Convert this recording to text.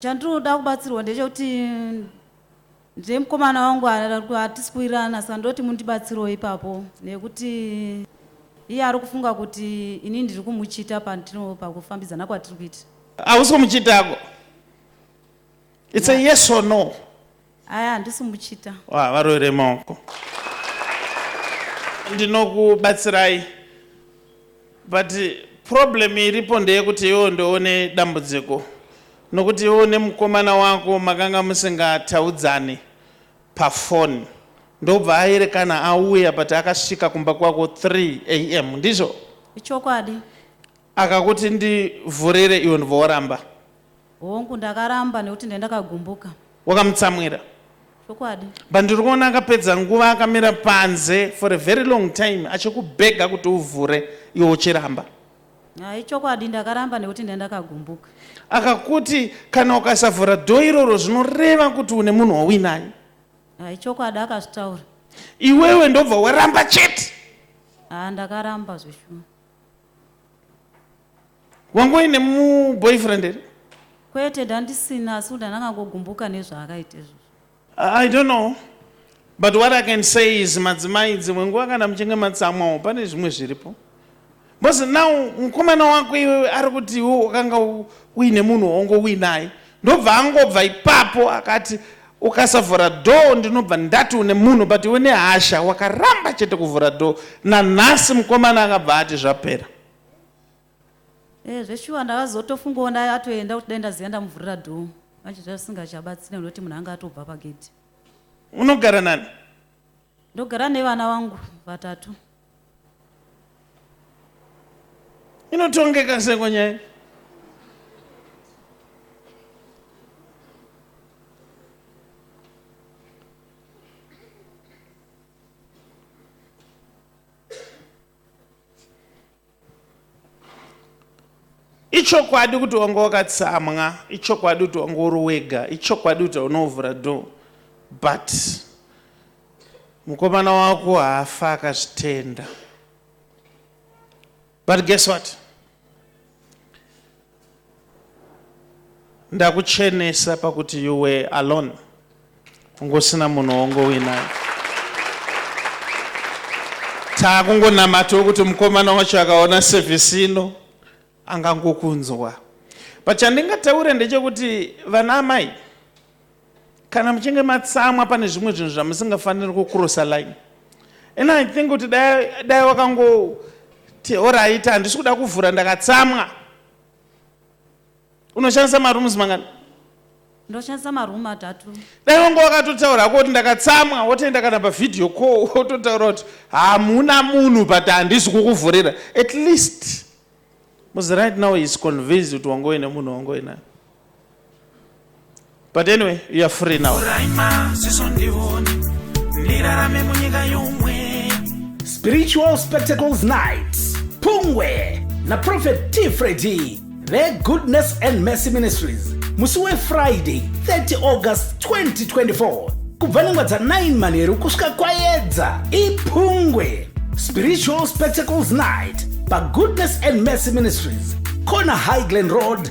Chandinoda kubatsirwa ndechekuti ndine mukomana wangu hatisi kuwirirana saka ndoti mundibatsirewo ipapo nekuti iye ari kufunga kuti ini ndiri kumuchita pandino pakufambidzana kwatiri kuita. Hausi kumuchitako. It's a yes or no. Aya handisi muchita. Wa varoere maoko. Ndinokubatsirai. But problem iripo ndeyekuti iwo ndoone dambudziko. Nokuti iwo nemukomana wako makanga musingataudzani paphone. Ndobva aerekana auya but akasvika kumba kwako 3 am ndizvo? Ichokwadi. Akakuti ndivhurire iwe ndobva waramba. Hongu ndakaramba nekuti ndendakagumbuka. Wakamutsamwira? Chokwadi. But ndiri kuona akapedza nguva akamira panze for a very long time achikubhega kuti uvhure iwe uchiramba. Ah, ichokwadi ndakaramba nekuti ndendakagumbuka. Akakuti kana ukasavhura dho iroro zvinoreva kuti une munhu wauinaye. Ah, ichokwadi akazvitaura. Iwewe ndobva waramba chete? Ah, ndakaramba zveshuwa. wanga uine muboyfriend here kwete ndandisina asi kuti andanga ngogumbuka nezvaakaita izvozvo i don't know but what i can say is madzimai dzimwe nguva kana muchinge matsamwawo pane zvimwe zviripo bcause now mukomana wako iwewe ari kuti iwe wakanga uine munhu waungo uinaye Ndobva angobva ipapo akati ukasavhura door ndinobva ndati une munhu but iwe nehasha wakaramba chete kuvhura door nanhasi mukomana akabva ati zvapera Eh zveshuwa ndakazotofungawo ndaye atoenda kuti dai ndaziva ndamuvhurira door manje zvasingachabatsire nekuti munhu anga atobva pagedhi. Unogara nani? ndogara nevana vangu vatatu inotongeka seko nyaya ichokwadi kuti wanga wakatsamwa ichokwadi kuti wanga uri wega ichokwadi kuti unovhura do but mukomana wako haafa akazvitenda but guess what ndakuchenesa pakuti you were alone kunge usina munhu wongowinayo taakungonamata wekuti mukomana wacho akaona sevhisi ino angangokunzwa but chandingataure ndechekuti vana amai Kana muchinge matsamwa pane zvimwe zvinhu zvamusingafaniri kucrossa line and i think kuti dai wakangoti orit handisi kuda kuvhura ndakatsamwa unoshandisa marooms mangani ndoshandisa maroom atatu dai wanga wakatotaura hako kuti ndakatsamwa wotoenda kana pavhideo co wototaura kuti hamuna munhu but handisi kukuvhurira at least muzi right now is convinced kuti wangove nemunhu wangove nayo But anyway, you are free now. Spiritual Spectacles Night. Pungwe na Prophet T. Freddy. Their Goodness and Mercy Ministries. Musuwe Friday, 30 August 2024. Kubva nengwa dza 9 manheru kusvika kwayedza. Ipungwe. Spiritual Spectacles Night. Pa Goodness and Mercy Ministries. Kona Highland Road.